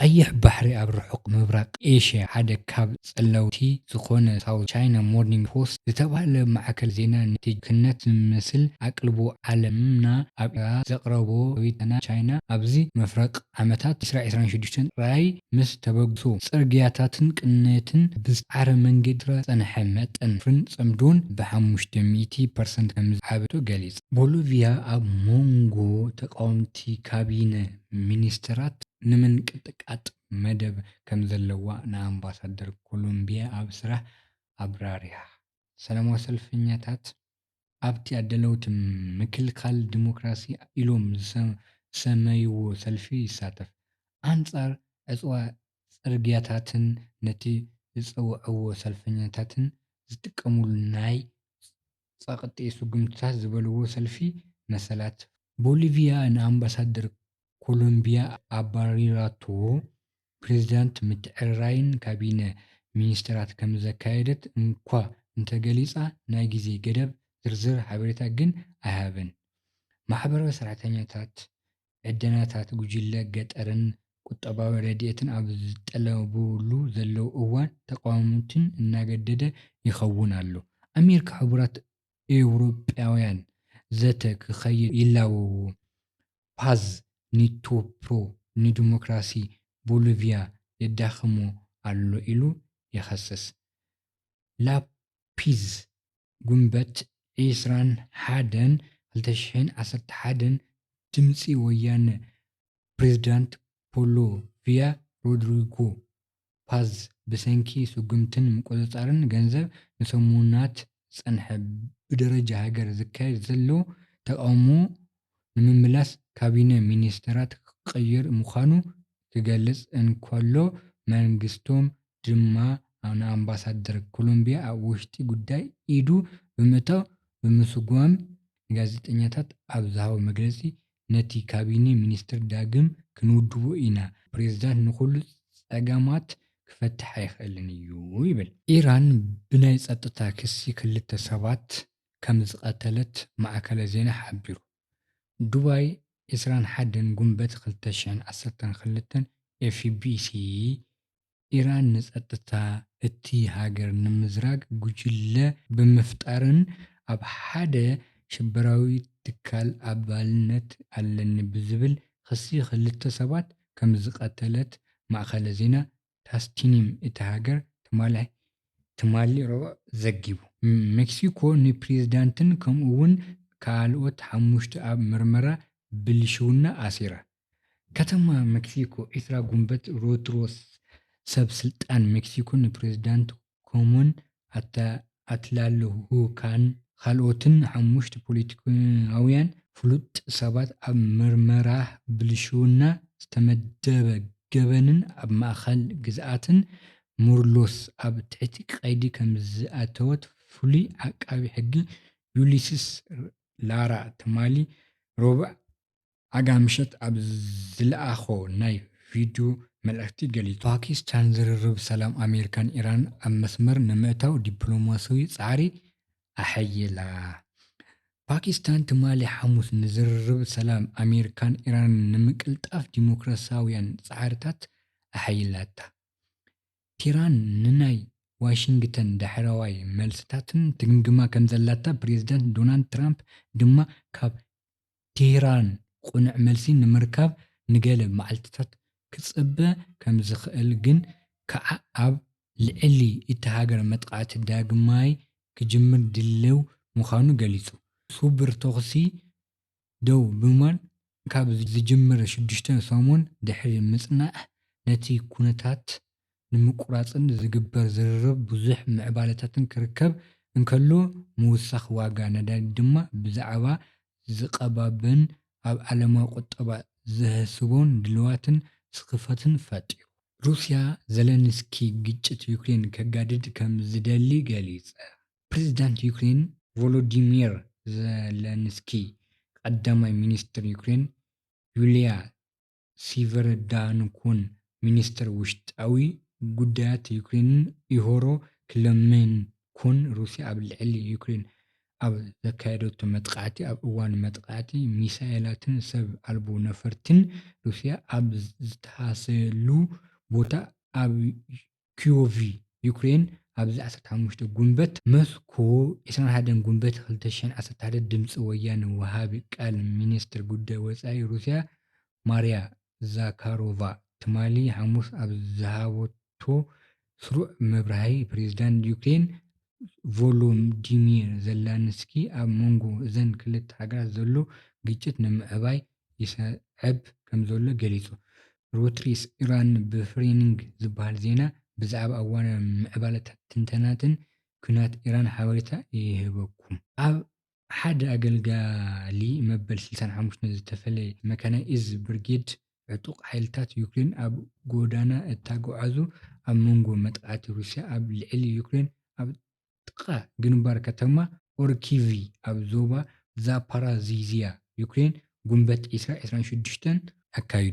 ቀይሕ ባሕሪ ኣብ ርሑቕ ምብራቕ ኤሽያ ሓደ ካብ ጸለውቲ ዝኾነ ሳውዝ ቻይና ሞርኒንግ ፖስት ዝተባህለ ማዕከን ዜና ንትጅክነት ዝመስል ኣቅልቦ ዓለምና ኣብ ኤርትራ ዘቕረቦ ሪኢቶና ቻይና ኣብዚ ምፍረቕ ዓመታት ዕስራ ዕስራን ሽዱሽተን ጥራይ ምስ ተበግሶ ጽርግያታትን ቅነትን ብዝጸዓረ መንገዲ ኤርትራ ዝጸንሐ መጠን ወፍርን ጽምዶን ብሓሙሽተ ሚእቲ ፐርሰንት ከምዝዓበቶ ገሊጹ። ቦሎቪያ ኣብ ሞንጎ ተቓወምቲ ካቢነ ሚኒስተራት ንምንቅጥቃጥ መደብ ከምዘለዋ ንኣምባሳደር ኮሎምቢያ ኣብ ስራሕ ኣብራሪሃ። ሰላማዊ ሰልፈኛታት ኣብቲ ኣዳለውቲ ምክልካል ዲሞክራሲ ኢሎም ዝሰመይዎ ሰልፊ ይሳተፍ። ኣንጻር ዕጽዋ ጽርግያታትን ነቲ ዝጸውዕዎ ሰልፈኛታት ዝጥቀሙሉ ናይ ጸቕጢ ስጉምትታት ዝበልዎ ሰልፊ መሰላት፣ ቦሊቪያ ንኣምባሳደር ኮሎምቢያ ኣባሪራቶ፣ ፕሬዚዳንት ምትዕርራይን ካቢነ ሚኒስተራት ከምዘካየደት እንኳ እንተገሊጻ ናይ ግዜ ገደብ ዝርዝር ሓበሬታ ግን ኣይሃበን። ማሕበራዊ ሰራሕተኛታት ዕደናታት ጉጅለ ገጠርን ቁጠባዊ ረድኤትን ኣብ ዝጠለቡሉ ዘለዉ እዋን ተቓወምቲ እናገደደ ይኸውን ኣሎ። ኣሜሪካ ሕቡራት ኤውሮጳውያን ዘተ ክኸይድ ይላወው። ፓዝ ኒቶ ፕሮ ንዲሞክራሲ ቦሊቭያ የዳኽሞ ኣሎ ኢሉ ይኸስስ። ላፒዝ ጉንበት ዕስራን ሓደን ክልተ ሽሕን ዓሰርተ ሓደን ድምጺ ወያነ ፕሬዝዳንት ቦሎቭያ ሮድሪጎ ፓዝ ብሰንኪ ስጉምትን ምቁጽጻርን ገንዘብ ንሰሙናት ዝጸንሐ ብደረጃ ሃገር ዝካየድ ዘሎ ተቓውሞ ንምምላስ ካቢነ ሚኒስተራት ክቕይር ምዃኑ ክገልጽ እንከሎ መንግስቶም ድማ ንኣምባሳደር ኮሎምብያ ኣብ ውሽጢ ጉዳይ ኢዱ ብምእታው ብምስጓም ንጋዜጠኛታት ኣብ ዝሃቦ መግለጺ ነቲ ካቢኔ ሚኒስትር ዳግም ክንውድቦ ኢና፣ ፕሬዚዳንት ንኹሉ ፀገማት ክፈትሕ ኣይኽእልን እዩ ይብል። ኢራን ብናይ ፀጥታ ክሲ ክልተ ሰባት ከምዝቐተለት ማዕከለ ዜና ሓቢሩ። ዱባይ ዕስራን ሓደን ጉንበት ክልተ ሽሕን ዓሰርተን ክልተን ኤፍቢሲ ኢራን ንጸጥታ እቲ ሃገር ንምዝራግ ጉጅለ ብምፍጣርን ኣብ ሓደ ሽበራዊ ትካል ኣባልነት ኣለኒ ብዝብል ኽሲ ኽልተ ሰባት ከምዝቐተለት ማእኸለ ዜና ታስቲኒም እታ ሃገር ትማሊ ትማሊ ረቡዕ ዘጊቡ። ሜክሲኮ ንፕሬዝዳንትን ከምኡ እውን ካልኦት ሓሙሽተ ኣብ ምርመራ ብልሽውና ኣሲራ። ከተማ መክሲኮ ዒስራ ጉንበት ሮድሮስ ሰብ ስልጣን መክሲኮ ንፕሬዝዳንት ኮሙን ኣትላልሁካን ኻልኦትን ሓሙሽት ፖለቲከኛውያን ፍሉጥ ሰባት ኣብ ምርመራ ብልሽውና፣ ዝተመደበ ገበንን ኣብ ማእኸል ግዝኣትን ሞርሎስ ኣብ ትሕቲ ቀይዲ ከምዝኣተወት ፍሉይ ዓቃቢ ሕጊ ዩሊስስ ላራ ትማሊ ሮቡዕ ኣጋምሸት ኣብ ዝለኣኾ ናይ ቪድዩ መልእኽቲ ገሊጹ። ፓኪስታን ዝርርብ ሰላም ኣሜሪካን ኢራንን ኣብ መስመር ንምእታው ዲፕሎማሲያዊ ጻዕሪ ኣሐይላ። ፓኪስታን ትማሊ ሓሙስ ንዝርርብ ሰላም ኣሜሪካን ኢራንን ንምቅልጣፍ ዲሞክራሲያውያን ጻዕርታት ኣሐይላታ። ቴህራን ንናይ ዋሽንግተን ዳሕረዋይ መልስታትን ትግምግማ ከምዘላታ ፕሬዚዳንት ዶናልድ ትራምፕ ድማ ካብ ቴህራን ቅኑዕ መልሲ ንምርካብ ንገለ መዓልቲታት ክጽበ ከም ዝኽእል ግን ከኣ ኣብ ልዕሊ እታ ሃገር መጥቓዕቲ ዳግማይ ክጅምር ድልው ምዃኑ ገሊጹ። ስውር ተዅሲ ደው ብምባል ካብ ዝጅምር ሽዱሽተ ሰሙን ድሕሪ ምጽናሕ ነቲ ኵነታት ንምቁራጽን ዝግበር ዝርርብ ብዙሕ ምዕባለታትን ክርከብ እንከሎ ምውሳኽ ዋጋ ነዳዲ ድማ ብዛዕባ ዝቐባበን ኣብ ዓለማዊ ቁጠባ ዘህስቦን ድልዋትን ስኽፈትን ፈጢሩ። ሩስያ፣ ዘለንስኪ ግጭት ዩክሬን ከጋድድ ከም ዝደሊ ገሊጸ። ፕሬዝዳንት ዩክሬን ቮሎዲሚር ዘለንስኪ፣ ቀዳማይ ሚንስትር ዩክሬን ዩልያ ሲቨረዳንኩን ሚኒስተር ውሽጣዊ ጉዳያት ዩክሬንን ኢሆሮ ክለሜንኩን ሩስያ ኣብ ልዕሊ ዩክሬን ኣብ ዘካየደቶ መጥቓዕቲ ኣብ እዋን መጥቓዕቲ ሚሳኤላትን ሰብ ኣልቦ ነፈርቲን ሩስያ ኣብ ዝተሃሰየሉ ቦታ ኣብ ክዮቭ ዩክሬን ኣብዚ ዓሰርተ ሓሙሽተ ጉንበት መስኮ ዕስራን ሓደን ጉንበት ክልተ ሽሕን ዓሰርተ ሓደ ድምጺ ወያነ ወሃቢ ቃል ሚንስትር ጉዳይ ወጻኢ ሩስያ ማርያ ዛካሮቫ ትማሊ ሓሙስ ኣብ ዝሃበቶ ስሩዕ መብራህይ ፕሬዝዳንት ዩክሬን ቮሎዲሚር ዘለንስኪ ኣብ መንጎ እዘን ክልተ ሃገራት ዘሎ ግጭት ንምዕባይ ይሰዕብ ከምዘሎ ገሊጹ። ሮይትርስ፣ ኢራን ብፍሬኒንግ ዝበሃል ዜና ብዛዕባ እዋናዊ ምዕባለታትን ትንተናታትን ኲናት ኢራን ሓበሬታ ይህበኩም። ኣብ ሓደ ኣገልጋሊ መበል ስልሳን ሓሙሽተን ዝተፈለየ መካናይዝድ ብርጌድ ዕጡቕ ሓይልታት ዩክሬን ኣብ ጎዳና እታጎዓዙ ኣብ መንጎ መጥቓዕቲ ሩስያ ኣብ ልዕሊ ዩክሬን ኣብ ጥቓ ግንባር ከተማ ኦርኪቪ ኣብ ዞባ ዛፓራዚዝያ ዩክሬን ጉንበት ዒስራ ዕስራን ሽዱሽተን ኣካይዱ።